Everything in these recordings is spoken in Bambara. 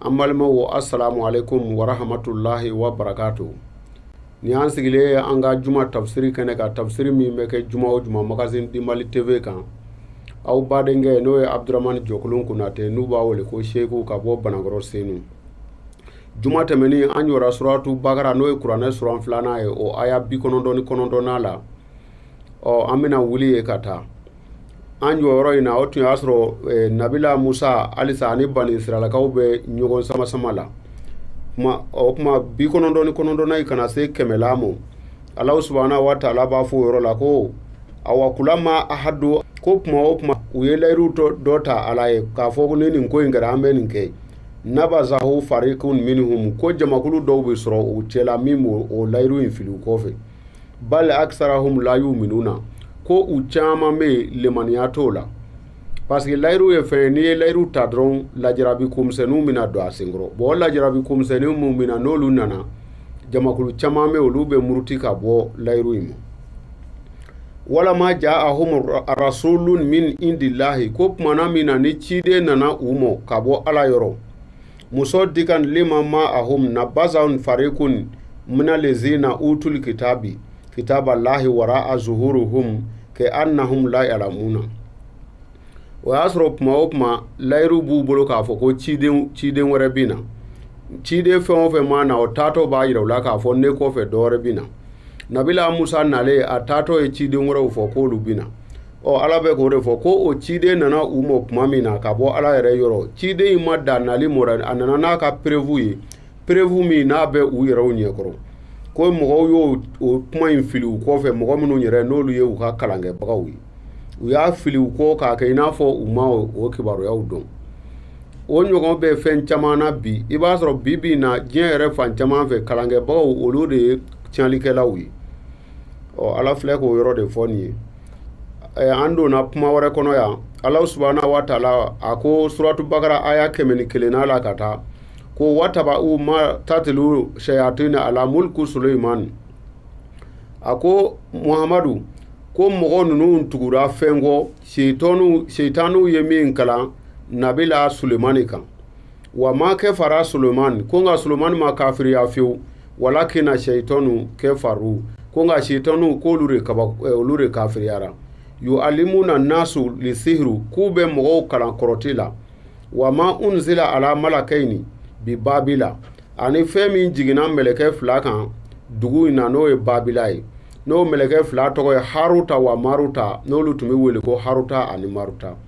an balimaw assalamu alaikum wa rahmatullahi wa barakatuh ni an sigilen ye an ka juma tafsiri kɛnɛ kan tafsiri min bɛ kɛ juma o juma magazine dimali tv kan aw badenkɛ n'o ye abdurahmani jɔkolon konatɛ n'u b'a wele ko seku ka bɔ banakɔrɔ senu juma tɛmɛnen an jɔra suratu bakara n'o ye kuranɛ suran filanan ye o aya bi kɔnɔntɔn ni kɔnɔntɔnnan la ɔ an bɛna wuli yen ka taa an jɔyɔrɔ in na o tun y'a sɔrɔ nabila musa halisa ani banisirayilakaw bɛ ɲɔgɔn samasama la kuma o kuma bi kɔnɔntɔn ni kɔnɔntɔnnan in ka na se kɛmɛnan ma alahu subahana wa taala b'a fɔ o yɔrɔ la ko awa kulama ahadu ko kuma o kuma u ye layiru dɔ ta ala ye k'a fɔ ko ni nin ko in kɛra an bɛ nin kɛ nabazahu farikun minhum ko jamakulu dɔw bɛ sɔrɔ u cɛla min b'o layiru in fili u kɔfɛ bal aksaruhum la yu'minuna ko u caman bɛ yen limaniya t'u la parce que layiru ye fɛn ye n'i ye layiru ta dɔrɔn lajarabi ko misɛnninw bɛna don a senkɔrɔ bon o lajarabi ko misɛnninw minnu bɛ na n'olu nana jamakulu caman bɛ yen olu bɛ muruti ka bɔ layiru in ma walama ja'ahum rasulun min indillahi ko tuma na min na ni ciden nana u ma ka bɔ ala yɔrɔ musadikun lima ma ahum nabaza farikun mina lezina utul kitabi kitaba lahi wara a zuhuruhum ke annahum la yalamuna o y'a sɔrɔ kuma o kuma layiru b'u bolo k'a fɔ ko ciden ciden wɛrɛ bɛ na ciden fɛn o fɛn maa na o taatɔ b'a yira u la k'a fɔ ne kɔfɛ dɔ wɛrɛ bɛ na nabila musa nalen a taatɔ ye ciden wɛrɛw fɔ k'olu bɛ na ɔ ala bɛ k'o de fɔ ko o ciden nana u ma tuma min na ka bɔ ala yɛrɛ yɔrɔ ciden in ma dan nali ma dɛ a nana n'a ka preuve ye preuve min n'a bɛ u yɛrɛw ɲɛkɔrɔ ko mɔgɔw y'o o kuma in fili u kɔfɛ mɔgɔ minnu yɛrɛ n'olu ye u ka kalankɛbagaw ye u y'a fili u kɔ k'a kɛ i n'a fɔ u ma o kibaruyaw dɔn o ɲɔgɔn bɛ fɛn caman na bi i b'a sɔrɔ bi bi in na diɲɛ yɛrɛ fan caman fɛ kalankɛbagaw olu de ye tiɲɛlikɛlaw ye ɔ ala filɛ k'o yɔrɔ de fɔ nin ye an donna kuma wɛrɛ kɔnɔ yan ala subahana wa taala a ko suratu bakara aya kɛmɛ ni kelennan la ka taa ko watabau ma tatilu shayatina ala mulku suleiman a ko muhamadu ko mɔgɔ ninnu tugura fɛn kɔ seitaniw ye min kalan nabila sulemani kan wa ma kefara suleman ko nka suleman ma kafiriya fewu walakina seitɔnu kefaru ko nka seitɔnuw k'olu de kaba eh, olu de kafiriyara yualimuna nasu lisihiru k'u bɛ mɔgɔw kalan kɔrɔti la wa ma unzila ala malakaini bi babila ani fɛn min jiginna mɛlɛkɛ fila kan dugu in na n'o ye babila ye n'o mɛlɛkɛ fila tɔgɔ ye haruta wa maruta n'olu tun bɛ wele ko haruta ani maruta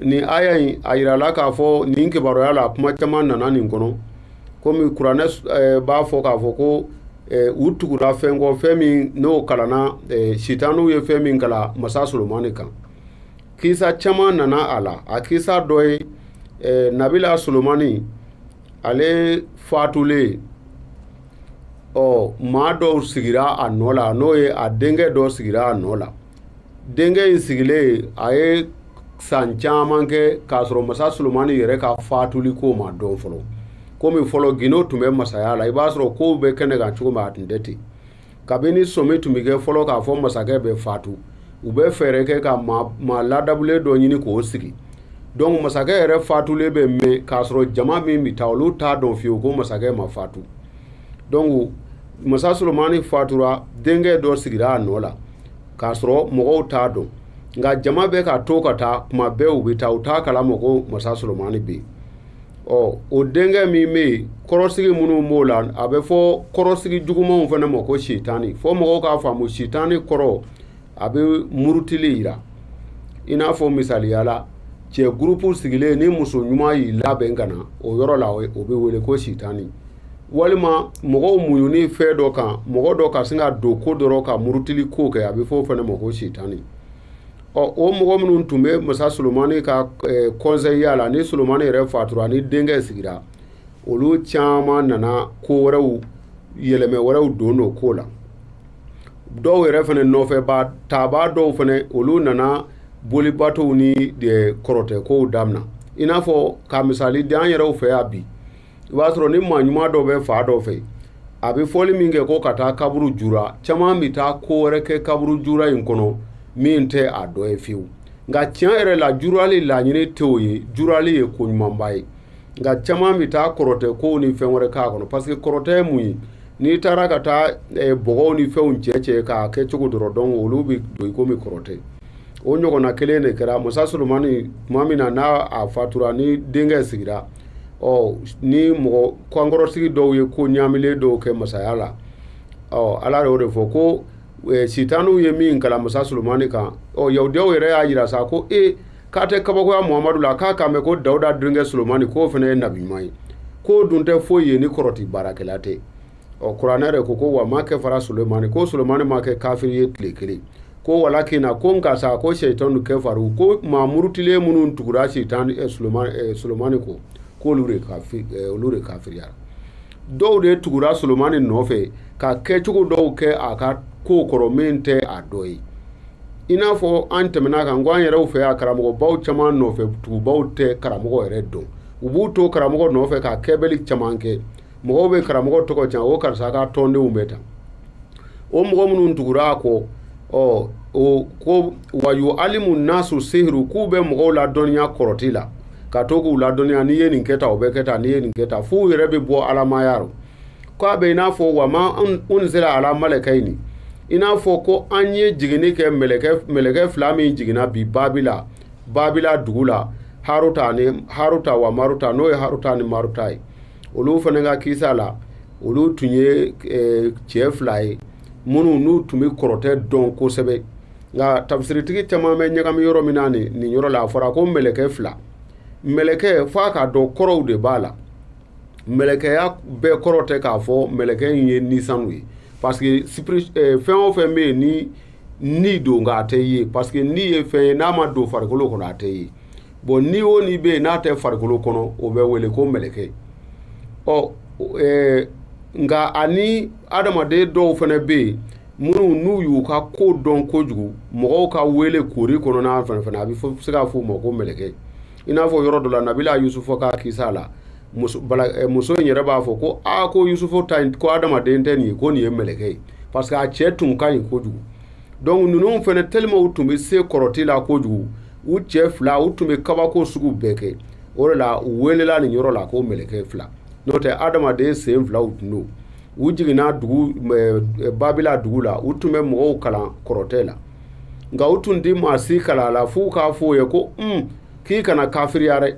nin aya in a yirala k'a fɔ nin kibaruya la kuma caman nana nin kɔnɔ komi kuranɛ eh, b'a fɔ k'a fɔ ko eh, u tugura fɛn kɔ fɛn min n'o kalanna eh, sitaniw ye fɛn min kalan masa solomani kan kisa caman nana a la a kisa dɔ ye eh, nabila solomani ale fatulen ɔ maa dɔw sigira a nɔ la n'o ye a denkɛ dɔ sigira a nɔ la denkɛ in sigilen a ye san caman kɛ k'a sɔrɔ masa solomani yɛrɛ ka fatuli ko ma dɔn fɔlɔ komi fɔlɔ gindo tun bɛ masaya la i b'a sɔrɔ kow bɛ kɛnɛ kan cogo min a tun tɛ ten kabini sɔmi tun bɛ kɛ fɔlɔ k'a fɔ masakɛ bɛ fatu u bɛ fɛɛrɛ kɛ ka maa ladabulen dɔ ɲini k'o sigi dɔnku masakɛ yɛrɛ fatulen bɛ mɛn k'a sɔrɔ jama min bɛ taa olu t'a dɔn fiyewu ko masakɛ ma fatu dɔnku masa solomani fatura denkɛ dɔ sigira a nɔ la k'a sɔrɔ mɔgɔw t'a dɔn nka jama bɛ ka to ka taa kuma bɛɛ u bɛ taa u t'a kalama ko masa solomani bɛ yen ɔ o denkɛ min bɛ yen kɔrɔsigi minnu b'o la a bɛ fɔ kɔrɔsigi jugumanw fana ma ko sitani fɔ mɔgɔw k'a faamu sitani kɔrɔ a bɛ murutili yira i n'a fɔ misaliya la cɛ gurupu sigilen ni muso ɲuman y'i labɛn ka na o yɔrɔ la o bɛ wele ko sitani walima mɔgɔw muɲuni fɛn dɔ kan mɔgɔ dɔ ka sin ka don ko dɔ rɔ ka murutili ko kɛ a bɛ fɔ o fana ma ko sitani ɔ o mɔgɔ minnu tun bɛ masa solomani ka kɔnsɛyiya la ni solomani yɛrɛ fatura ni denkɛ sigira olu caman nana ko wɛrɛw yɛlɛmɛ wɛrɛw don don ko la dɔw yɛrɛ fana nɔfɛba taabaa dɔw fana olu nana bolibatow ni kɔrɔtɛkow damina i n'a fɔ ka misali di an yɛrɛw fɛ yan bi i b'a sɔrɔ ni maa ɲuman dɔ bɛ fan dɔ fɛ a bɛ fɔli min kɛ ko ka taa kaburu jura caman bɛ taa ko wɛrɛ kɛ kaburu jura in kɔnɔ min tɛ a dɔ ye fiyewu nka tiɲɛ yɛrɛ la jurali laɲini tɛ o ye jurali ye ko ɲumanba ye nka caman bɛ taa kɔrɔtɛ kow ni fɛn wɛrɛ k'a kɔnɔ parce que kɔrɔtɛ ye mun ye n'i taara ka taa eh, bɔgɔw ni fɛnw cɛ cɛ k'a kɛ cogo dɔ rɔ dɔn olu bɛ don i komi kɔrɔtɛ o ɲɔgɔnna kelen de kɛra masa solomani tuma min na n'a a fatura ni denkɛ sigira ɔ ni mɔgɔ kankɔrɔsigi dɔw ye ko ɲaamilen dɔw kɛ masaya la ɔ ala y'o de fɔ ko eh, sitaniw ye min kalan masa solomani kan ɔ yahudiyaw yɛrɛ y'a jira sa ko e k'a tɛ kabakoya muhamadu la k'a kan bɛ ko dawuda denkɛ solomani k'o fana ye nabi ɲuman ye k'o dun tɛ foyi ye ni kɔrɔti baarakɛla tɛ ɔ kuranɛ yɛrɛ ko ko wa ma kafara sulemani ko sulemani ma kɛ kafiri ye tile kelen ko walakina ko nka sa ko seitanu kafaru ko maa murutilen minnu tugura seitan eh, sulemani eh, sulemani ko k'olu de kafi eh, olu de kafiriyara dɔw de tugura sulemani nɔfɛ ka kɛcogo dɔw kɛ a ka kow kɔrɔ min tɛ a dɔ ye i n'a fɔ an tɛmɛna kan ko an yɛrɛw fɛ yan karamɔgɔbaw caman nɔfɛ tugubaw tɛ karamɔgɔ yɛrɛ dɔn u b'u to karamɔgɔ nɔfɛ ka kɛbali caman kɛ mɔgɔw bɛ karamɔgɔ tɔgɔ tiɲɛ ko karisa ka tɔndenw bɛ tan o mɔgɔ minnu tugura a kɔ ɔ o ko wa yualimu nasu sehiru k'u bɛ mɔgɔw ladɔnniya kɔrɔti la ka to k'u ladɔnniya n'i ye nin kɛ tan o bɛ kɛ tan n'i ye nin kɛ tan f'u yɛrɛ bɛ bɔ adamaya rɔ k'a bɛ i n'a fɔ wa ma unzila ala malɛkɛyini i n'a fɔ ko an ye jiginni kɛ mɛlɛkɛ mɛlɛkɛ fila min jiginna bi babila babila dugu la haruta ni haruta wa maruta n'o ye haruta ni maruta ye olu fana ka kisa la olu tun ye eh, cɛ fila ye minnu n'u tun bɛ kɔrɔtɛ dɔn kosɛbɛ nka tafisiritigi caman bɛ ɲagami yɔrɔ min na nin nin yɔrɔ la a fɔra ko mɛlɛkɛ fila mɛlɛkɛ f'a k'a dɔn kɔrɔw de b'a la mɛlɛkɛya bɛɛ kɔrɔ tɛ k'a fɔ mɛlɛkɛ in ye ni sanu ye parce que esprit eh, fɛn o fɛn bɛ yen ni ni don nka a tɛ ye parce que ni ye fɛn ye n'a ma don farikolo kɔnɔ a tɛ ye bon ni o ni bɛ yen n'a tɛ farikolo kɔnɔ o bɛ wele ko mɛlɛkɛ ɔ ɛɛ nka ani adamaden dɔw fana bɛ yen minnu n'u y'u ka ko dɔn kojugu mɔgɔw ka wele koori kɔnɔna fana fana a bɛ se k'a fɔ o ma ko mɛlɛkɛ i n'a fɔ yɔrɔ dɔ la nabila yusufu ka kisa la muso in yɛrɛ b'a fɔ ko aa ko yusufu ta ko adamaden tɛ nin ye ko nin ye mɛlɛkɛ ye parce que a cɛ tun ka ɲi kojugu donc ninnu fana tellement u tun bɛ se kɔrɔti la kojugu u cɛ fila u tun bɛ kabako sugu bɛɛ kɛ o de la u welela nin yɔrɔ la ko mɛlɛkɛ fila n'o tɛ adamaden sen filaw tun don u jiginna babila dugu la u tun bɛ mɔgɔw kalan kɔrɔtɛ la nka u tun tɛ maa si kalan a la fo u k'a fɔ o ye ko un k'i kana kafiriya dɛ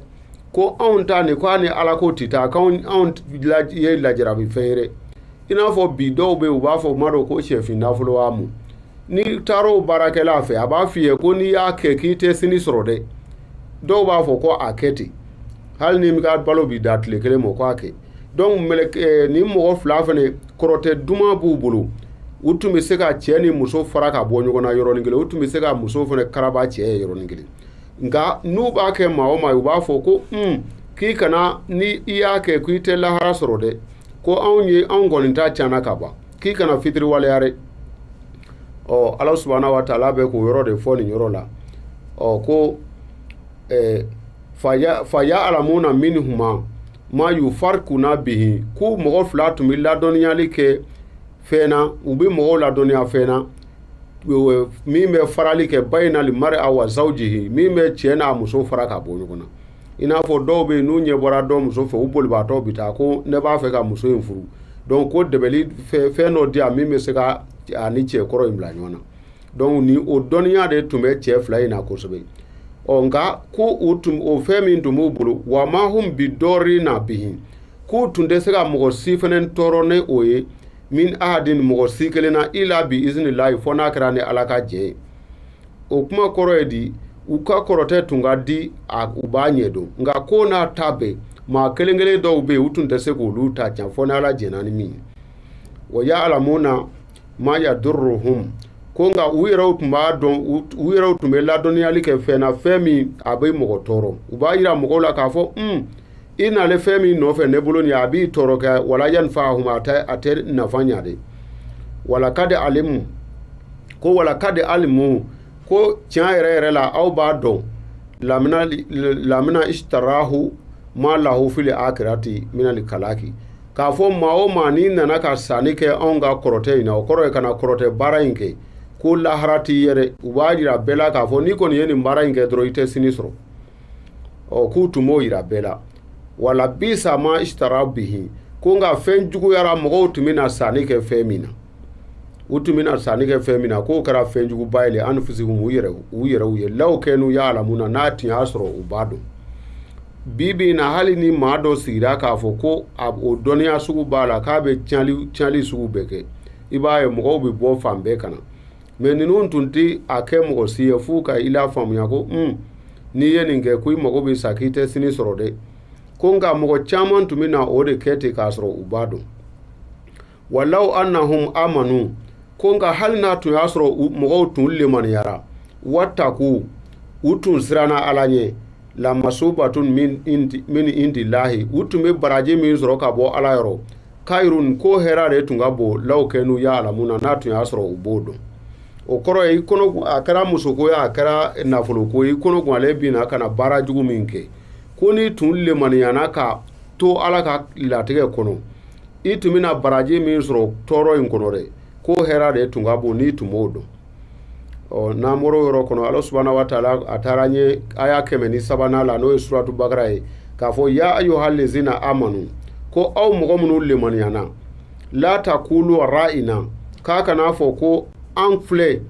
ko anw ta nin ko a ni ala ko tɛ taa k'an anw ye lajarabi fɛn ye i n'a fɔ bi dɔw bɛ u b'a fɔ o ma dɔn ko shɛfin nafolo wa mun n'i taar'o baarakɛla fɛ a b'a f'i ye ko n'i y'a kɛ k'i tɛ sini sɔrɔ dɛ dɔw b'a fɔ ko a kɛ ten hali ni n bɛ ka balo bi da tile kelen mɔ ko a kɛ donc mɛlɛk eh, nin mɔgɔ fila fana kɔrɔtɛ duman b'u bolo u tun bɛ se ka cɛ ni muso fara ka bɔ ɲɔgɔn na yɔrɔnin kelen u tun bɛ se ka muso fana karaba cɛ ye yɔrɔnin kelen nka n'u b'a kɛ maa o maa u b'a fɔ ko un k'i kana ni i y'a kɛ ko i tɛ lahara sɔrɔ dɛ ko anw ye anw kɔni ta tiɲɛna ka ban k'i kana fitiriwaleya dɛ ɔ ala subahana wa taala bɛ k'o yɔrɔ de fɔ nin yɔrɔ la ɔ ko ɛɛ fa yaalamuna minhuma ma yufarikuna bihi ko mɔgɔ fila tun bɛ ladɔnniyali kɛ fɛn na u bɛ mɔgɔw ladɔnniya fɛn na min bɛ farali kɛ bayinali mari a wa zawjihi min bɛ cɛ n'a muso fara ka bɔ ɲɔgɔn na i n'a fɔ dɔw bɛ yen n'u ɲɛ bɔra dɔ muso fɛ u bolibaatɔ bɛ taa ko ne b'a fɛ ka muso in furu dɔnku ko dabali fɛn dɔ di a min bɛ se k'a ni cɛ kɔrɔ in bila ɲɔgɔn na dɔnku ni o dɔnniya de tun bɛ cɛ fila in na kosɛbɛ ɔ nka ko o o fɛn min tun b'u bolo wa ma hum bi dɔɔrina bihi k'u tun tɛ se ka mɔgɔ si fana tɔɔrɔ n'o ye min ahadin mɔgɔ si kelen na ila bi izni layi fɔ n'a kɛra ni ala ka jɛn ye o kuma kɔrɔ ye di u ka kɔrɔtɛ tun ka di u b'a ɲɛ dɔn nka k'o n'a ta bɛɛ maa kelen kelen dɔw bɛ yen u tun tɛ se k'olu ta tiɲɛ fɔ n'ala jɛnna ni min ye wa yaalamuna ma yaduruhum ko nka u yɛrɛw tun b'a dɔn u yɛrɛw tun bɛ ladɔnniyali kɛ fɛn na fɛn min a bɛ mɔgɔ tɔɔrɔ u b'a jira mɔgɔw la k'a fɔ un i nalen fɛn min nɔfɛ ne bolo nin ye a b'i tɔɔrɔ kɛ wala yanfaahum a tɛ a tɛ nafa ɲa dɛ walakadi alimu ko walakadi alimu ko tiɲɛ yɛrɛ yɛrɛ la aw b'a dɔn lamina lamina istarahu ma lahu fili akirati mina li kalaki k'a fɔ maa o maa n'i nana ka sanni kɛ anw ka kɔrɔtɛ in na o kɔrɔ ye ka na kɔrɔtɛ baara in kɛ ko lahara t'i ye dɛ u b'a jira bɛɛ la k'a fɔ n'i kɔni ye nin baara in kɛ dɔrɔn i tɛ sini sɔrɔ ɔ k'u tun b'o yira bɛɛ la walabisa ma isitara bihi ko nka fɛn juguyara mɔgɔw tun bɛna sanni kɛ fɛn min na u tun bɛna sanni kɛ fɛn min na k'o kɛra fɛn juguba ye le anfusihimu u yɛrɛ u yɛrɛw ye law kanu yaalamuna n'a tun y'a sɔrɔ u b'a dɔn bi bi in na hali ni maa dɔ sigira k'a fɔ ko a o dɔnniya sugu b'a la k'a bɛ tiɲɛli tiɲɛli sugu bɛɛ kɛ i b'a ye mɔgɔw bɛ bɔ fan bɛɛ ka na mɛ ninnu tun tɛ a kɛ mɔgɔ si ye f'u ka i la faamuya ko un n'i ye nin kɛ ko i mago bɛ sa k'i tɛ sini sɔrɔ dɛ ko nka mɔgɔ caman tun bɛ na o de kɛ ten k'a sɔrɔ u b'a dɔn walaw annahum amanu ko nka hali n'a tun y'a sɔrɔ mɔgɔw tun lemaniyara wataku u tun siranna ala ɲɛ lamasubatun min indi lahi u tun bɛ baraji min sɔrɔ ka bɔ ala yɔrɔ kayirun ko hɛra de tun ka bon law kanu yaalamuna n'a tun y'a sɔrɔ u b'o dɔn o kɔrɔ ye i kɔnɔ a kɛra musoko ye a kɛra nafolo ko ye i kɔnɔ gwannen binna ka na baara jugu min kɛ ko n'i tun lemaniyana ka to ala ka latigɛ kɔnɔ i tun bɛna baraji min sɔrɔ tɔɔrɔ in kɔnɔ dɛ ko hɛra de tun ka bon n'i tun b'o dɔn ɔ n'an bɔra o yɔrɔ kɔnɔ ala subahana wa taala a taara an ye aya kɛmɛ ni sabanan la n'o ye suratu bakara ye k'a fɔ ya ayyuhal lezina amanu ko aw mɔgɔ minnu lemaniyana la takulu ra'ina k'a kana fɔ ko an filɛ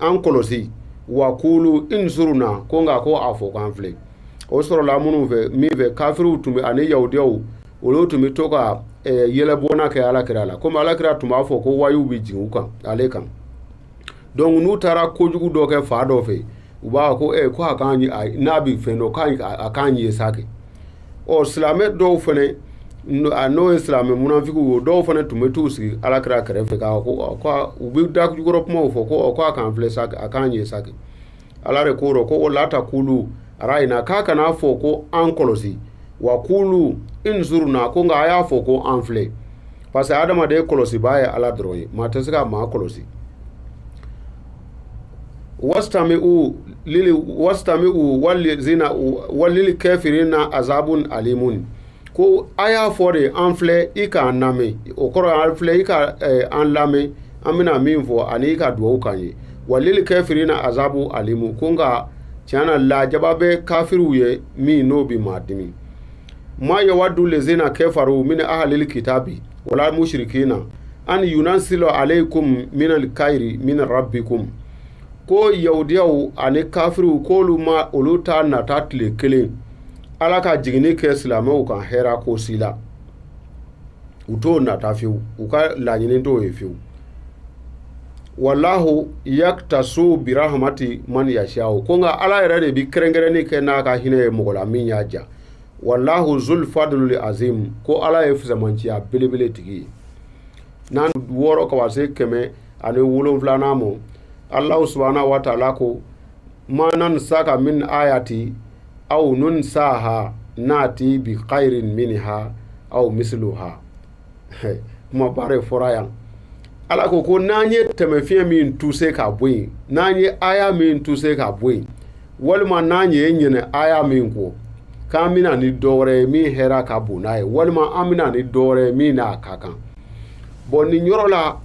an kɔlɔsi wa kulu inzuruna ko nka ko a fɔ k'an filɛ o sɔrɔla minnu fɛ min fɛ kafiriw tun bɛ ani yahudiyaw olu tun bɛ to ka eh, yɛlɛbɔnna kɛ ala kira la komi ala kira tun b'a fɔ ko wayu bɛ jigin ale kan donc n'u taara kojugu dɔ kɛ fan dɔ fɛ u b'a fɔ ko eh, ko a k'an n'a bɛ fɛn dɔn k'a a k'an ye sa kɛ ɔ silamɛ dɔw fana n'o ye silamɛ munafigiw ye dɔw fana tun bɛ t'u sigi ala kira kɛrɛfɛ k'a ko u bɛ dajukɔrɔ kumaw fɔ ko ko a k'an filɛ sa a k'an ye sa kɛ ala de k'o ko o la takulu ra'ina k'a kana fɔ ko an kɔlɔsi wa kulu inzuruna ko nka a y'a fɔ ko an filɛ parce que adamaden kɔlɔsibaa ye ala dɔrɔn ye maa tɛ se ka maa kɔlɔsi wastami'u lili wastami'u walizina walil kafirina azabun alimun ko a y'a fɔ de an filɛ i k'an lamɛn o kɔrɔ an filɛ i ka eh, an lamɛn an bɛna min fɔ ani i ka dugawu k'an ye walil kafirina azabu alimu ko nka tiɲɛ na lajaba bɛ kafiriw ye min n'o bɛ maa dimi ma yawadu lezina kafaru min ahalil kitabi wala mushrikina an yunazila alaykum min alkhairi min rabbikum ko yahudiyaw ani kafiriw k'olu ma olu t'a nata tile kelen ala ka jiginni kɛ silamɛw kan hɛra ko si la u t'o nata fewu u ka laɲini t'o ye fewu wallahu yaktasu birahmati man yashau ko nka ala yɛrɛ de bi kɛrɛnkɛrɛnni kɛ n'a ka hinɛ ye mɔgɔ la min y'a diya wallahu zul fadlul azim ko ala ye fisamanciya belebele tigi ye n'an wɔɔrɔ ka se kɛmɛ ani wolonwulanan ma allahu subahana wa taala ko ma nansaka min ayati aw nunsiha nati bi khairin minha aw misliha kumaba de fɔra yan ala ko ko n'an ye taamasiyɛn min tuse ka bɔ yen n'an ye aya min tuse ka bɔ yen walima n'an y'i ɲinɛ aya min kɔ k'an bɛna ni dɔ wɛrɛ ye min hɛra ka bon n'a ye walima an bɛna ni dɔ wɛrɛ ye min n'a ka kan bɔn nin yɔrɔ la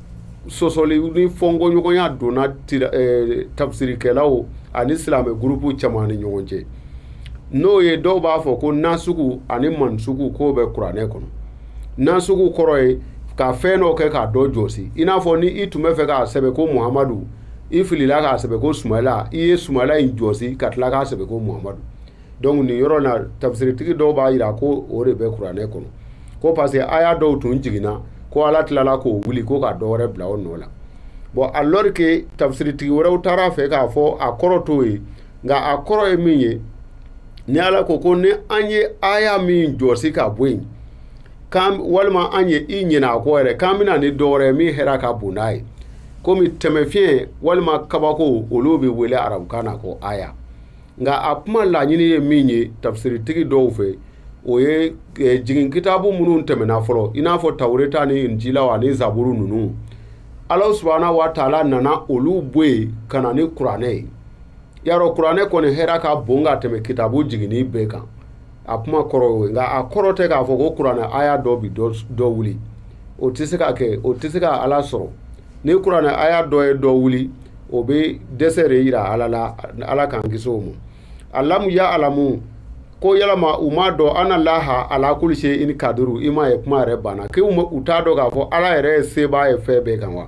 sɔsɔli ni fɔnkɔɲɔgɔnya donna eh, tafsirikɛlaw ani silamɛ gurupu caman ni ɲɔgɔn cɛ n'o ye dɔw b'a fɔ ko nasugu ani mansugu k'o bɛ kuranɛ kɔnɔ nasugu kɔrɔ ye ka fɛn dɔ kɛ k'a dɔ jɔsi i n'a fɔ ni i tun bɛ fɛ k'a sɛbɛn ko muhamadu i filila k'a sɛbɛn ko sumayila i ye sumayila in jɔsi ka tila k'a sɛbɛn ko muhamadu donc nin yɔrɔ na tafsiritigi dɔw b'a jira ko o de bɛ kuranɛ kɔnɔ ko parce que aya dɔw tun jiginna ko ala tilala k'o wuli ko ka dɔ wɛrɛ bila o nɔ la bon alors que tafsiritigi wɛrɛw taara a fɛ k'a fɔ a kɔrɔ t'o ye nka a kɔrɔ ye min ye ni ala ko ko ni an ye aya min jɔsi k'a bɔ yen k'an walima an ye i ɲinɛ a kɔ yɛrɛ k'an bɛ na ni dɔ wɛrɛ ye min hɛrɛ ka bon n'a ye komi taamasiyɛn walima kabako olu bɛ wele arabukan na ko aya nka a kuma laɲini ye min ye tafsiritigi dɔw fɛ o ye eh, jigin kitabu minnu tɛmɛna fɔlɔ i n'a fɔ tawureta ni injilaw ani zaburu ninnu ala subahana wa taala nana olu bɔ yen ka na ni kuranɛ ye y'a dɔn kuranɛ kɔni hɛra ka bon ka tɛmɛ kitabu jiginnen bɛɛ kan a kuma kɔrɔ o ye nka a kɔrɔ tɛ k'a fɔ ko kuranɛ aya dɔ bi dɔ wuli o tɛ se ka kɛ o tɛ se ka ala sɔrɔ ni kuranɛ aya dɔ ye dɔ wuli o bɛ dɛsɛ de yira ala la ala k'an kisi o ma alamu yaalamu ko yalama u m'a dɔn anna laha ala kuli seyini kaduru i m'a ye kuma yɛrɛ banna k'u t'a dɔn k'a fɔ ala yɛrɛ ye sebaa ye fɛn bɛɛ kan wa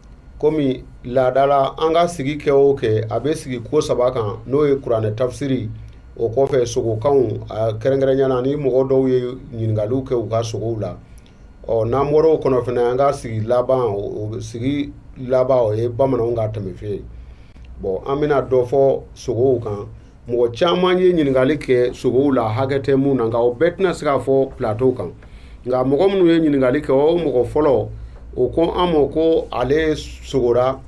komi laadala an ka sigi kɛ o kɛ a bɛ sigi ko saba kan n'o ye kuranɛ tafsiri o kɔfɛ sogokanw a kɛrɛnkɛrɛnya na ni mɔgɔ dɔw ye ɲininkaliw kɛ u ka sogow la ɔ n'an bɔra o kɔnɔ fana an ka sigi laban o sigi laban o ye bamananw ka tɛmɛfe ye bɔn an bɛna dɔ fɔ sogow kan mɔgɔ caman ye ɲininkali kɛ sogow la hakɛ tɛ mun na nka o bɛɛ tɛna se ka fɔ plateau kan nka mɔgɔ minnu ye ɲininkali kɛ o mɔgɔ fɔlɔ o ko an ma ko ale sogora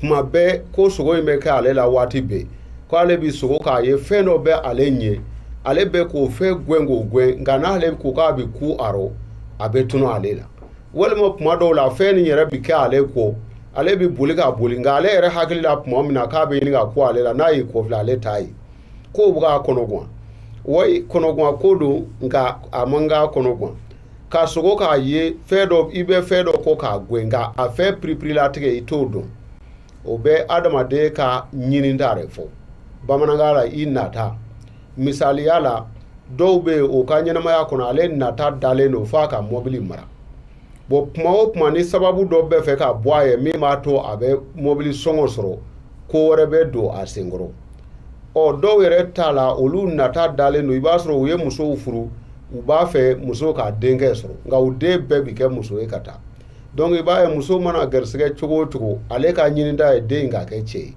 kuma bɛɛ ko sogo in bɛ kɛ ale la waati bɛɛ ko ale bi sogo k'a ye fɛn dɔ bɛ ale ɲɛ ale bɛ k'o fɛn gɛn k'o gɛn nka n'ale ko k'a bɛ kun a rɔ a bɛ tunun ale la walima kuma dɔw la fɛn nin yɛrɛ bɛ kɛ ale kɔ ale bɛ boli ka boli nka ale yɛrɛ hakili la kuma min na k'a bɛ ɲini ka kun ale la n'a y'i kɔfilɛ ale t'a ye ko o bɛ k'a kɔnɔgwan wayi kɔnɔgwanko don nka a man k'a kɔnɔgwan ka sogo k'a ye fɛn dɔ i bɛ fɛn dɔ kɔ k'a gɛn nka a fɛn piripirilatigɛ i t'o dɔn o bɛ adamaden ka ɲininta de fɔ bamanankan la i nata misaliya la dɔw bɛ yen o ka ɲɛnamaya kɔnɔ ale nata dalen don f'a ka mɔbili mara bɔn kuma o kuma ni sababu dɔ bɛ fɛ ka bɔ a ye min b'a to a bɛ mɔbili sɔngɔ sɔrɔ ko wɛrɛ bɛ don a senkɔrɔ ɔ dɔw yɛrɛ t'a la olu nata dalen don i b'a sɔrɔ u ye musow furu u b'a fɛ muso ka denkɛ sɔrɔ nka u den bɛɛ bi kɛ muso ye ka taa donc i b'a ye muso mana garisɛgɛ cogo o cogo ale ka ɲininta ye den ka kɛ cɛ ye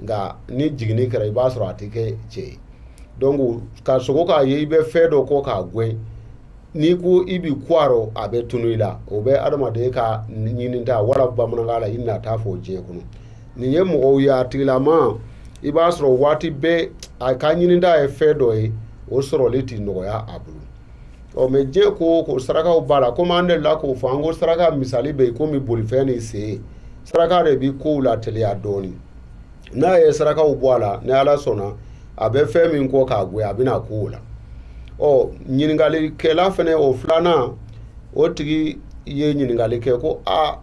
nka ni jiginni kɛra i b'a sɔrɔ a tɛ kɛ cɛ ye donc ka sogo k'a ye i bɛ fɛn dɔ kɔ k'a gɛn n'i ko i b'i ku a rɔ a bɛ tunu i la o bɛ adamaden ka ɲininta wala bamanankan la i nata fɔ diɲɛ kɔnɔ nin ye mɔgɔ ye a tigilama i b'a sɔrɔ waati bɛɛ a ka ɲininta ye fɛn dɔ ye o sɔrɔli tɛ nɔgɔya a bolo ɔ mɛ diɲɛ ko o ko sarakaw b'a la komi an delila k'o fɔ an ko saraka misali bɛ i komi bolifɛn ni sen saraka de bɛ kow lateliya dɔɔnin n'a ye sarakaw bɔ a la ni ala sɔnna a bɛ fɛn min kɔ k'a gɛn a bɛna ku o la ɔ ɲininkalikɛla fɛnɛ o filanan o tigi ye ɲininkali kɛ ko a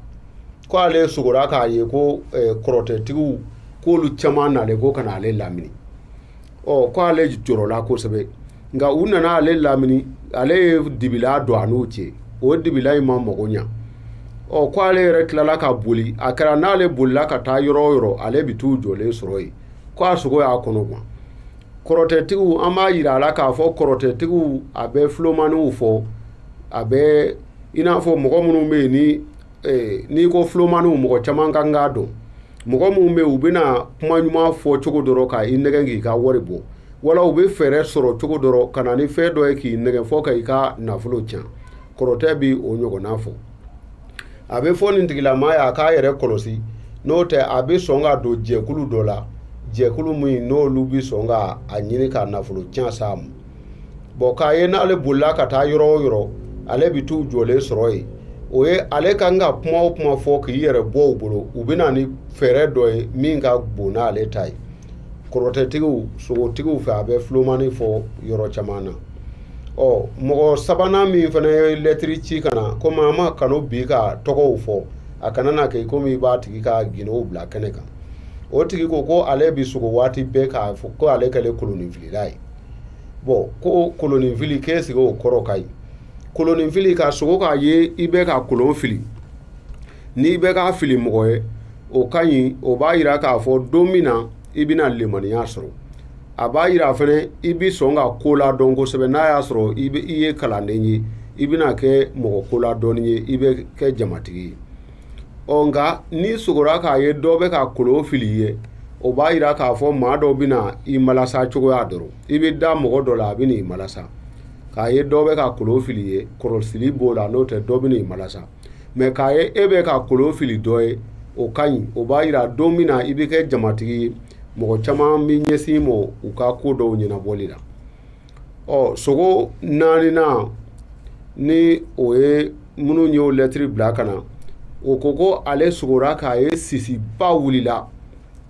ko ale sogora k'a ye ko kɔrɔtɛtigiw k'olu caman nalen ko ka na ale lamini ɔ ko ale jɔrɔla kosɛbɛ nka u nana ale lamini ale ye dibilan don a n'u cɛ o dibilan in ma mago ɲa ɔ ko ale yɛrɛ tilala ka boli a kɛra n'ale bolila ka taa yɔrɔ o yɔrɔ ale bɛ t'u jɔlen sɔrɔ yen ko a sogo y'a kɔnɔ gan kɔrɔtɛtigiw an b'a yira a la k'a fɔ kɔrɔtɛtigiw a bɛ filomaniw fɔ a bɛ i n'a fɔ mɔgɔ minnu bɛ yen ni ee, n'i ko filomaniw mɔgɔ caman ka kan k'a dɔn mɔgɔ minnu bɛ u bɛna kuma ɲuman fɔ cogo dɔ rɔ ka i nɛgɛn k'i ka wari bɔ wala u bɛ fɛɛrɛ sɔrɔ cogo dɔ rɔ ka na ni fɛn dɔ ye k'i nɛgɛn fɔ ka i ka nafolo tiɲɛ kɔrɔtɛ bɛ o ɲɔgɔnna fɔ a bɛ fɔ nin tigilama ye a k'a yɛrɛ kɔlɔsi n'o tɛ a bɛ sɔn ka don jɛkulu dɔ la jɛkulu min n'olu bɛ sɔn ka a ɲini ka nafolo tiɲɛ s'a ma bɔn k'a ye n'ale bolila ka taa yɔrɔ o yɔrɔ ale bɛ t'u jɔlen sɔrɔ yen o ye ale ka kan ka kuma o kuma fɔ k'i yɛrɛ bɔ u bolo u bɛ na ni fɛɛrɛ dɔ ye min ka bon n'ale ta ye kɔrɔtɛtigiw sogotigiw fɛ a bɛ filomani fɔ yɔrɔ caman na ɔ mɔgɔ sabanan min fana ye lɛtiri ci ka na komi an m'a kanu bi ka tɔgɔw fɔ a kana na kɛ komi i b'a tigi ka gundow bila kɛnɛ kan o tigi ko ko ale bɛ sogo waati bɛɛ k'a fɔ ko ale kɛlen kolonninfilila ye bɔn ko kolonninfili k'ɛsike o kɔrɔ ka ɲi kolonninfili ka sogo k'a ye i bɛ ka kolon fili n'i bɛ k'a fili mɔgɔ ye o ka ɲi o b'a yira k'a fɔ don min na i bɛna limaniya sɔrɔ a b'a yira fɛnɛ i bɛ sɔn ka ko la dɔn kosɛbɛ n'a y'a sɔrɔ i ye kalanden ye i bɛna kɛ mɔgɔ ko la dɔnnen ye i bɛ kɛ jamatigi ye ɔ nka n'i sogora k'a ye dɔ bɛ ka kolon fili i ye o b'a yira k'a fɔ maa dɔ bɛna i malasa cogoya dɔ rɔ i bɛ da mɔgɔ dɔ la a bɛn'i malasa k'a ye dɔ bɛ ka kolon fili i ye kɔlɔsili b'o la n'o tɛ dɔ bɛn'i malasa mɛ k'a ye e bɛ ka kolon fili dɔ ye o ka ɲi o b'a yira don min na i bɛ kɛ jamatigi ye mɔgɔ caman bɛ ɲɛsin i ma u ka ko dɔw ɲɛnabɔli la ɔ sogo naaninan ni o ye minnu y'o lɛtiri bila ka na o ko ko ale sogora k'a ye sisiba wulila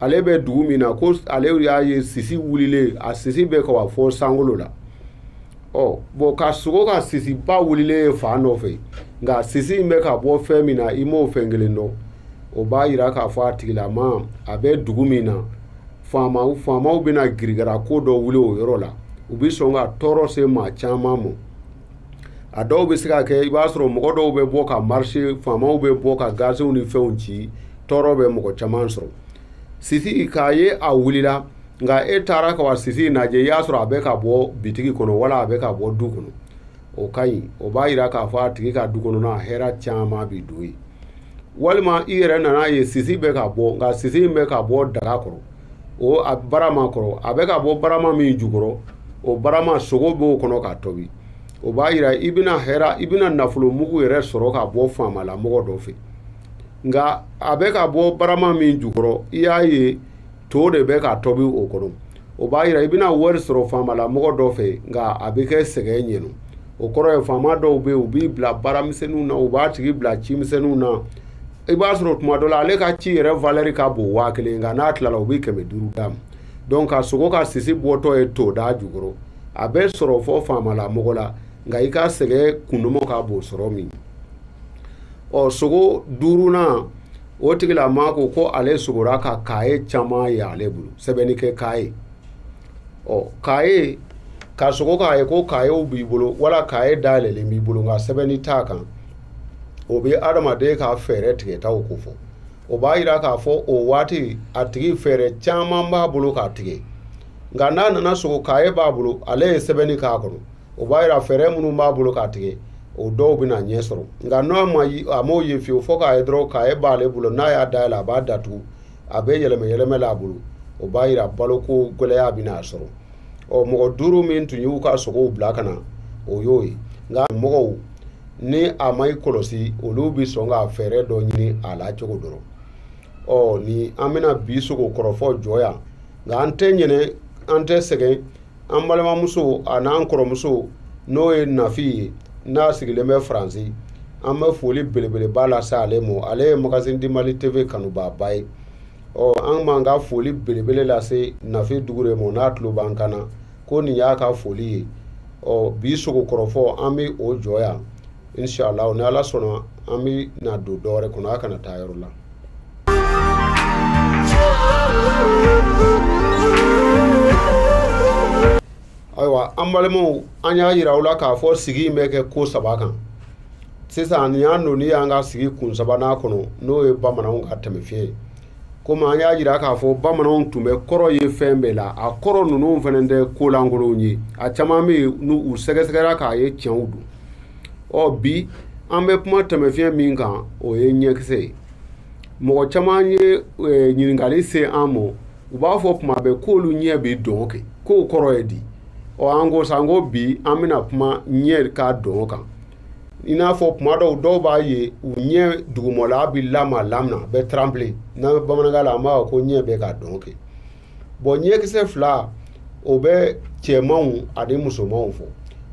ale bɛ dugu min na ko ale y'a ye sisi wulilen a sisi bɛ ka wa fɔ sankolo la ɔ bɔn ka sogo ka sisiba wulilen ye fan dɔ fɛ nka sisi in bɛ ka bɔ fɛn min na i m'o fɛn kelen dɔn o b'a jira k'a fɔ a tigilamaa bɛ dugu min na faamaw faamaw bɛna girigara ko dɔ wuli o yɔrɔ la u bɛ sɔn ka tɔɔrɔ se maa caman ma a dɔw bɛ se ka kɛ i b'a sɔrɔ mɔgɔ dɔw bɛ bɔ ka marise faamaw bɛ bɔ ka gazew ni fɛnw ci tɔɔrɔ bɛ mɔgɔ caman sɔrɔ sisi k'a ye a wulila nka e taara ka wa sisi lajɛ i y'a sɔrɔ a bɛ ka bɔ bitigi kɔnɔ wala a bɛ ka bɔ du kɔnɔ o ka ɲi o b'a jira k'a fɔ a tigi ka du kɔnɔna hɛrɛ caman bɛ don yen walima i yɛrɛ nan'a ye sisi bɛ ka bɔ nka sisi in bɛ ka bɔ daga kɔrɔ o a barama kɔrɔ a bɛ ka bɔ barama min jukɔrɔ o barama sogo b'o kɔnɔ ka tobi o b'a jira i bɛna hɛrɛ i bɛna nafolo mugu yɛrɛ sɔrɔ ka bɔ faamala mɔgɔ dɔ fɛ nka a bɛ ka bɔ barama min jukɔrɔ i y'a ye to de bɛ ka tɔbi o kɔnɔ o b'a jira i bɛna wari sɔrɔ faamala mɔgɔ dɔ fɛ nka a bɛ kɛ sɛgɛn ɲɛna o kɔrɔ ye faama dɔw bɛ yen u b'i bila baaramisɛnninw na u b'a tigi bila cimisɛnninw na i b'a sɔrɔ tuma dɔ la ale ka ci yɛrɛ valɛri ka bon waa kelen nka n'a tilala u bɛ kɛmɛ duuru d'a ma donc ka sogo ka sisi bɔtɔ ye toda jukɔrɔ a bɛ sɔrɔ fɔ faamala mɔgɔ la nka i ka sɛgɛn kundɔmɔ ka bon sɔrɔ min ɔ sogo duurunan o tigilamaa ko ko ale sogora ka kaye caman ye ale bolo sɛbɛnni kɛ kaye ɔ kaye ka sogo k'a ye ko kayew b'i bolo wala kaye dayɛlɛlen b'i bolo nka sɛbɛnni t'a kan o bɛ adamaden ka fɛɛrɛ tigɛtaw kofɔ o b'a yira k'a fɔ o waati a tigi fɛɛrɛ caman b'a bolo k'a tigɛ nka n'a nana sogo kaye b'a bolo ale ye sɛbɛnni k'a kɔnɔ o b'a yira fɛɛrɛ minnu b'a bolo k'a tigɛ o dɔw bɛna ɲɛ sɔrɔ nka n'a ma a m'o ye fiyewu fo kaye dɔrɔn kaye b'ale bolo n'a y'a dayɛlɛ a b'a datugu a bɛ yɛlɛmɛ yɛlɛmɛ la a bolo o b'a yira baloko gɛlɛya bɛna a sɔrɔ ɔ mɔgɔ duuru min tun y'u ka sogow bila ka na o y'o ye nka mɔgɔw ni a ma i kɔlɔsi olu bɛ sɔn ka fɛɛrɛ dɔ ɲini a la cogo dɔ rɔ ɔ ni an bɛna bi sogo kɔrɔfɔ jɔ yan nka an tɛ ɲinɛ an tɛ sɛgɛn an balimamuso a n'an kɔrɔmuso n'o ye nafi ye n'a sigilen bɛ faransi an bɛ foli belebeleba lase ale mɔ ale ye magazine du mali tv kanubaaba ye ɔ an b'an ka foli belebele lase nafi dukure mɔ n'a tulo b'an kan na ko nin y'a ka foli ye ɔ bi sogokɔrɔfɔ an bɛ o jɔ yan inshallah ni ala sɔnna an bɛ na don dɔ wɛrɛ kɔnɔ a kana taa yɔrɔ la ayiwa an balimaw an y'a yira aw la k'a fɔ sigi in bɛ kɛ ko saba kan sisan nin y'an donni y'an ka sigi kun sabanan kɔnɔ n'o ye bamananw ka tɛmɛfiɲɛ ye komi an y'a yira k'a fɔ bamananw tun bɛ kɔrɔ ye fɛn bɛɛ la a kɔrɔ ninnu fana tɛ ko lankolonw ye a caman bɛ yen ni u sɛgɛsɛgɛra k'a ye tiɲɛw don ɔ bi an bɛ kuma tɛmɛfiɲɛ min kan o ye ɲɛkisɛ ye mɔgɔ caman ye eh, ɲininkali se an ma u b'a fɔ kuma bɛɛ k'olu ɲɛ bɛ dɔn kɛ k'o kɔrɔ ye di ɔ an ko sa an ko bi an bɛna kuma ɲɛ ka dɔn kan i n'a fɔ kuma dɔw dɔw b'a ye u ɲɛ dugumɔla bɛ lama lama n'a bɛ trembler n'an bɛ bamanankan la an b'a fɔ ko ɲɛ bɛ ka dɔn kɛ bɔn ɲɛkisɛ fila o bɛ cɛmanw ani musomanw fɔ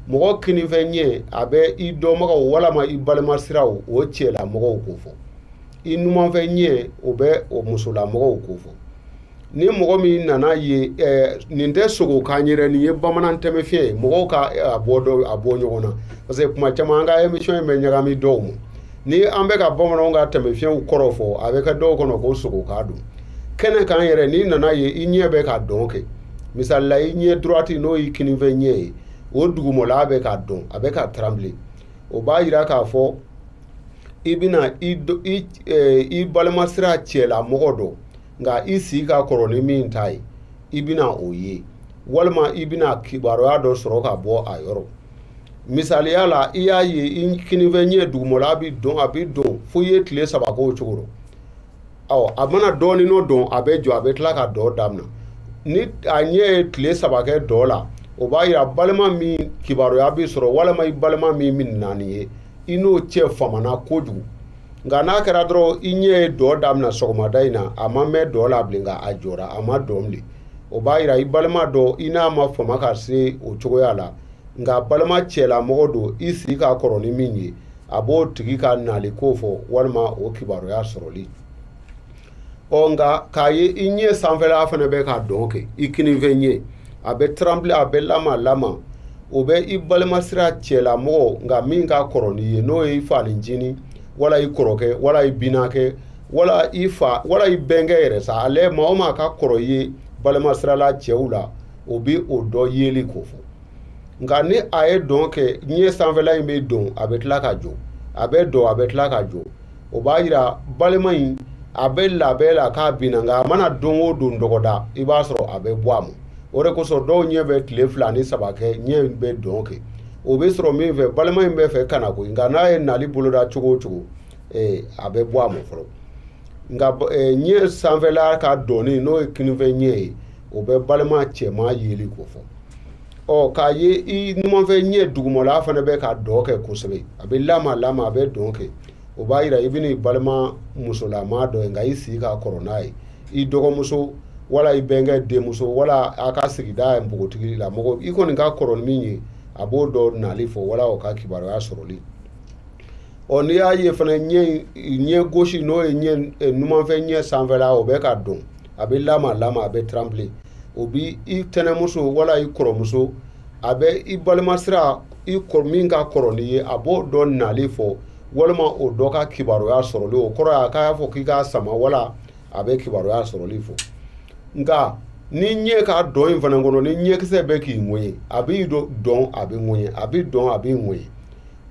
mɔgɔ kininfɛn ɲɛ a bɛ i dɔnbagaw walama i balima siraw o cɛlamɔgɔw ko fɔ i numanfɛn ɲɛ o bɛ o musolamɔgɔw ko fɔ ni mɔgɔ min nana ye ɛɛ nin tɛ sogo kan yɛrɛ nin ye bamanan tɛmɛfiɲɛ ye mɔgɔw ka a bɔ dɔ a bɔ ɲɔgɔn na parce que kuma caman an ka emission in bɛ ɲagami dɔw ma ni an bɛ ka bamananw ka tɛmɛfiɲɛw kɔrɔ fɔ a bɛ kɛ dɔw kɔnɔ ko sogo kan don kɛnɛ kan yɛrɛ n'i nana ye i ɲɛ bɛ ka dɔn kɛ misali la i ɲɛ droite n'o y'i kininfɛ ɲɛ ye o dugumɔla bɛ ka dɔn a bɛ ka trembler o b'a yira k'a fɔ i bɛna i i eh, i balima sira cɛlamɔgɔ dɔ nka i si ka kɔrɔ ni min ta ye i bɛna o ye walima i bɛna kibaruya dɔ sɔrɔ ka bɔ a yɔrɔ misaliya la i y'a ye i kininfɛ ɲɛ dugumɔla bi dɔn a bi dɔn fo i ye tile saba k'o cogo rɔ ɔ a mana dɔɔnin dɔn a bɛ jɔ a bɛ tila ka dɔn damina ni a ɲɛ ye tile saba kɛ dɔn la o b'a yira balima min kibaruya bi sɔrɔ walima i balima min min nalen ye i n'o cɛ famana kojugu nka n'a kɛra dɔrɔn i ɲɛ ye dɔn daminɛ sɔgɔmada in na a ma mɛɛn dɔn la bilen nka a jɔra a ma dɔn bilen o b'a yira i balima dɔ i n'a ma fama ka se o cogoya la nka balima cɛlamɔgɔ don i si ka kɔrɔ ni min ye a b'o tigi ka nali ko fɔ walima o kibaruya sɔrɔli ɔ nka k'a ye i ɲɛ sanfɛla fana bɛ ka dɔn kɛ i kininfɛ ɲɛ a bɛ trembler a bɛ lama lama o bɛ i balima sira cɛlamɔgɔ nka min ka kɔrɔ n'i ye n'o ye i fanincinin wala i kɔrɔkɛ wala i binakɛ wala i fa wala i bɛnkɛ yɛrɛ sa ale maa o maa ka kɔrɔ i ye balima sirala cɛw la o bɛ o dɔ yeli ko fɔ nka ni a ye dɔn kɛ ɲɛ sanfɛla in bɛ dɔn a bɛ tila ka jɔ a bɛ dɔn a bɛ tila ka jɔ o b'a yira balima in a bɛ labɛn la k'a bɛ na nka a mana don o don dɔgɔda i b'a sɔrɔ a bɛ bɔ a ma o de kosɔn dɔw ɲɛ bɛ tile fila ni saba kɛ ɲɛ in bɛ dɔn kɛ o bɛ sɔrɔ min fɛ balima in bɛ fɛ ka na koyi nka n'a ye nali boloda cogo o cogo eh, a bɛ bɔ a ma fɔlɔ nka eh, ɲɛ sanfɛla ka dɔn in n'o ye kininfɛ ɲɛ ye o bɛ balima cɛman yeli ko fɔ ɔ k'a ye i numanfɛ ɲɛ dugumala fana bɛ ka dɔn kɛ kosɛbɛ a bɛ lama lama a bɛ dɔn kɛ o b'a yira i bɛna i balima musolama dɔ ye nka i si ka kɔrɔ n'a ye i dɔgɔmuso wala i bɛnkɛ denmuso wala a ka sigida npogotigi la mɔgɔ i kɔni ka kɔrɔ ni min ye a b'o dɔ nali fɔ wala o ka kibaruya sɔrɔli ɔ n'i y'a ye fana ɲɛ ɲɛ gosi n'o ye ɲɛ numanfɛ ɲɛ sanfɛla o bɛ ka dɔn a bɛ lamaa lamaa a bɛ tranbile o bɛ i tɛnɛmuso wala i kɔrɔmuso a bɛ i balimasira i kɔrɔ min ka kɔrɔ n'i ye a b'o dɔ nali fɔ walima o dɔ ka kibaruya sɔrɔli o kɔrɔ ye a k'a fɔ k'i k'a sama wala a bɛ kibaruya sɔrɔli fɔ nka ni ɲɛ ka dɔn in fana kɔnɔ ni ɲɛkisɛ bɛ k'i ŋɛɲɛ a b'i dɔn a bɛ ŋɛɲɛ a bɛ dɔn a b'i ŋɛɲɛ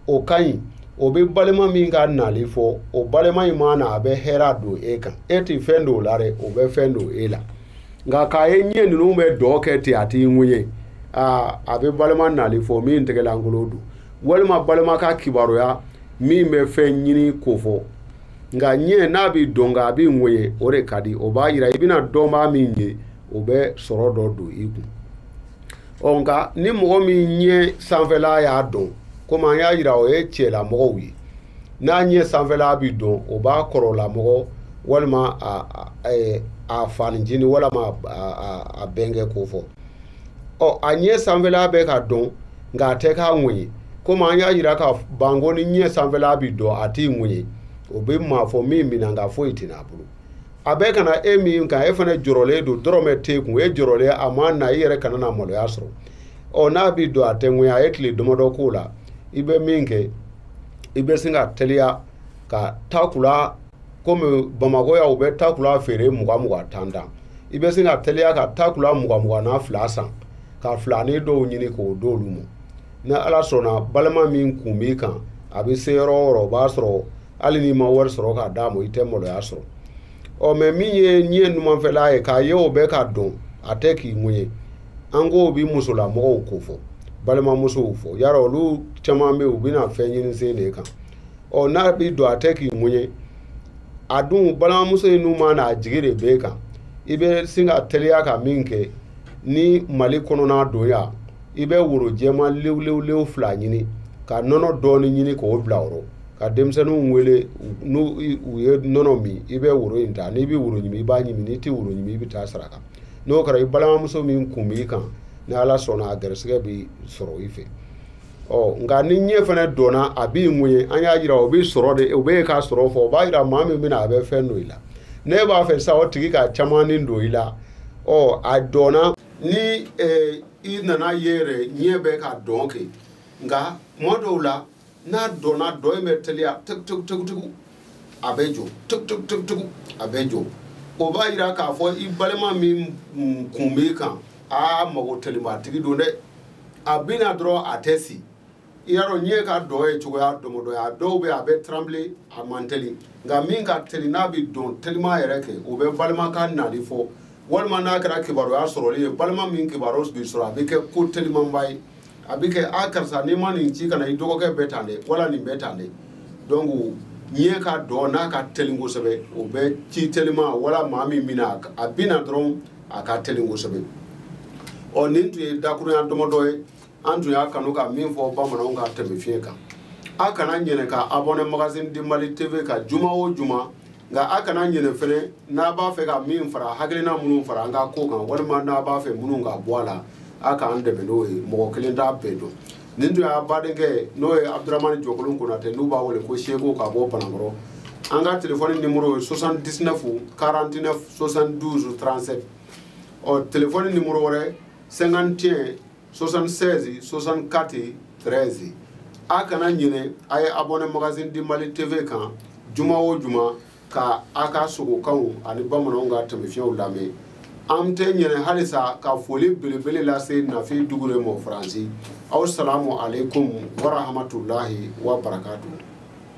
o ka ɲi o bɛ balima min ka nali fɔ o balima in maa na a bɛ hɛrɛ don e kan e tɛ fɛn don o la dɛ o bɛ fɛn don e la nka k'a ye ɲɛ ninnu bɛ dɔn kɛ ten a t'i ŋɛɲɛ aa a bɛ balima nali fɔ min tɛgɛlankolo don walima balima ka kibaruya min bɛ fɛn ɲini ko fɔ nka ɲɛ n'a bɛ dɔn nka a b'i ŋɛɲɛ o de ka di o b'a yira i bɛna dɔnbaa min ye o bɛ sɔrɔ dɔ don i kun ɔ nka ni mɔgɔ min ɲɛ sanfɛla y'a dɔn komi an y'a yira o ye cɛla mɔgɔw ye n'a ɲɛ sanfɛla bi dɔn o b'a kɔrɔla mɔgɔ walima a a fanincinin walima a bɛnkɛ ko fɔ ɔ a ɲɛ sanfɛla bɛ ka dɔn nka a tɛ k'a ŋɛɲɛ komi an y'a yira ka ban ko ni ɲɛ sanfɛla bi dɔn a t'i ŋɛɲɛ o bɛ maa fɔ min bɛ na nka foyi tɛ na a bolo a bɛ ka na e min kan e fana jɔrɔlen don dɔrɔmɛ t'e kun e jɔrɔlen a maa na i yɛrɛ kana na maloya sɔrɔ ɔ n'a bi dɔn a tɛ ŋɛɲɛ a ye tile damadɔ k'o la i bɛ min kɛ i bɛ sin ka teliya ka takula komi bamakɔ yan u bɛ takula feere mugan mugan tan tan i bɛ sin ka teliya ka takula mugan mugan na fila san ka filanin dɔw ɲini k'o d'olu ma ni ala sɔnna balima min kun b'i kan a bɛ se yɔrɔ o yɔrɔ o b'a sɔrɔ hali n'i ma wari sɔrɔ k'a d'a ma i tɛ maloya sɔrɔ ɔ mɛ min ye ɲɛ numanfɛla ye k'a ye o bɛ ka dɔn a tɛ k'i ŋɛɲɛ an k'o bi musolamɔgɔw ko fɔ balimamusow fɔ yara olu caman bɛ yen u bɛna fɛn ɲini sen de kan ɔ n'a bɛ dɔn a tɛ k'i ŋɛɲɛ a dun balimamuso in n'o maa na a jigi de b'e kan i bɛ sin ka teliya ka min kɛ ni mali kɔnɔna don yan i bɛ woro jɛman lewulewu fila ɲini ka nɔnɔ dɔɔni ɲini k'o bila o rɔ ka denmisɛnninw wele n'u ye nɔnɔ min i bɛ woro in ta n'i bɛ woro ɲimi i b'a ɲimi n'i tɛ woro ɲimi i bɛ t'a saraka n'o kɛra i balimamuso min kun b'i kan ni ala sɔnna a garisigɛ bɛ sɔrɔ i fɛ ɔ nka ni ɲɛ fana dɔnna a b'i mun ye an y'a jira o bɛ sɔrɔ de o bɛ ka sɔrɔ fɔ o b'a jira maa min bɛna a bɛ fɛn don i la ne b'a fɛ sa o tigi ka caman ni don i la ɔ a dɔnna ni eh, i nana ye i yɛrɛ ɲɛ bɛ ka dɔn kɛ nka kuma dɔw la n'a dɔnna dɔn in bɛ teliya tɛkutukutuku a bɛ jɔ tɛkutukutuku a bɛ jɔ o b'a yira k'a fɔ i balima min kun b'i kan a mago telimatigi don dɛ a bɛ na dɔrɔn a tɛ si i y'a dɔn n'i ɲɛ ka dɔn ye cogoya dɔmɔdɔ ye a dɔw bɛ a bɛ tranbile a man teli nka min ka teli n'a bɛ dɔn telima yɛrɛ kɛ o bɛ balima ka nali fɔ walima n'a kɛra kibaruya sɔrɔli ye balima min kibaruya bɛ sɔrɔ a bɛ kɛ ko telimanba ye a bɛ kɛ a karisa n'i ma nin ci ka na i dɔgɔkɛ bɛ tan dɛ wala nin bɛ tan dɛ donc n'i ɲɛ ka dɔn n'a ka teli kosɛbɛ o bɛ ci telima wala maa min bɛna a bɛ na dɔrɔn a ka teli kosɛbɛ ɔ nin tun ye dakurunya dɔmɔdɔ ye an tun y'a kanu ka min fɔ bamananw ka tɛmɛfiɲɛ kan a kana ɲinɛ ka abonné magazine de mali tv kan juma o juma nka a kana ɲinɛ fɛnɛ n'a b'a fɛ ka min fara hakilina minnu fara an ka ko kan walima n'a b'a fɛ minnu ka bɔ a la a k'an dɛmɛ n'o ye mɔgɔ kelen t'a bɛɛ dɔn nin tun y'a badenkɛ n'o ye abdramani jɔkolon konatɛ n'u b'a wele ko seko ka bɔ banankɔrɔ an ka telefɔni nimoro ye 79 49 72 37 ɔ telefɔni nimoro wɛrɛ 51 76 64 13 a kana ɲinɛ a ye abonné magazine di mali tv kan juma o juma ka a ka sogokanw ani bamananw ka tɛmɛfiɲɛw lamɛn an tɛ ɲinɛ halisa ka foli belebele lase nafi dukure ma faransi aw salamu aleykum warahamatulahi wa barakatu